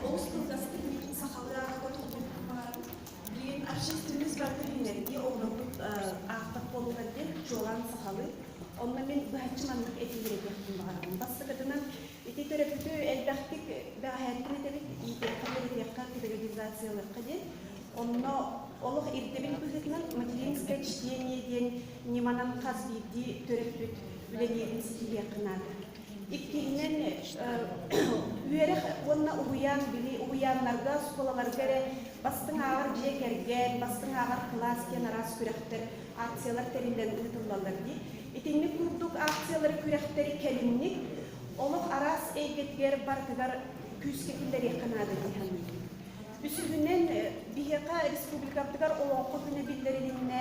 Ол сылгаспын сахаларга туллубут баар. Билигин архивтыбыт барыта билинэрдии оҕолорбут аахтах буолуохтар диэн чуолаан сахалыы. Онно мин быһаччы маннык этиилэрдиэхпин баҕарабын. Бастакытынан, ити төрөппүтү элбэхтик бээһээттэн этэбит, иитиэххэ, үөрэтиэххэ, категоризациялыахха диэн. Онно олох ирдэбил быһыытынан материнское чтение диэн ньыманан хас биирдии төрөппүт үлэлиирин ситиһиэххэ наада. Иккиһинэн, үөрэх уонна уһуйаан били уһуйааннарга, оскуолаларга эрэ бастыҥ ааҕар дьиэ кэргэн, бастыҥ ааҕар кылаас диэн араас күрэхтэр, акциялар тэриллэн ыытыллаллар дии. Итинник курдук акциялары күрэхтэри кэлимник олох араас эйгэтигэр барытыгар күүскэ киллэриэххэ наада дии саныыбын. Үсүһүнэн, биһиэхэ республикабытыгар Олоҥхо күнэ биллэрилиннэ.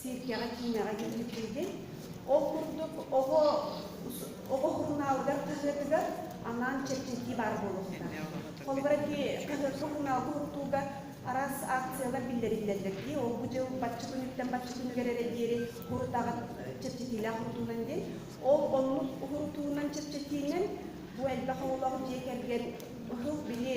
сиэркэҕэ-киинэҕэ дьүүллүкүйдүн. Ол курдук, оҕо оҕо сурунаалыгар хаһыатыгар анаан чэпчэтии баар буолуохтаах. Холобура, сурунаал туһуттууга араас акциялар биллэриллэллэр дии. Ол бу дьыл бачча күнүттэн бачча күнүгэр эрэ диэри урут аҕат чэпчэтиилээх уруттуунан диэн. Ол оннук уруттуунан чэпчэтиинэн бу элбэх оҕолоох дьиэ кэргэн быһыл били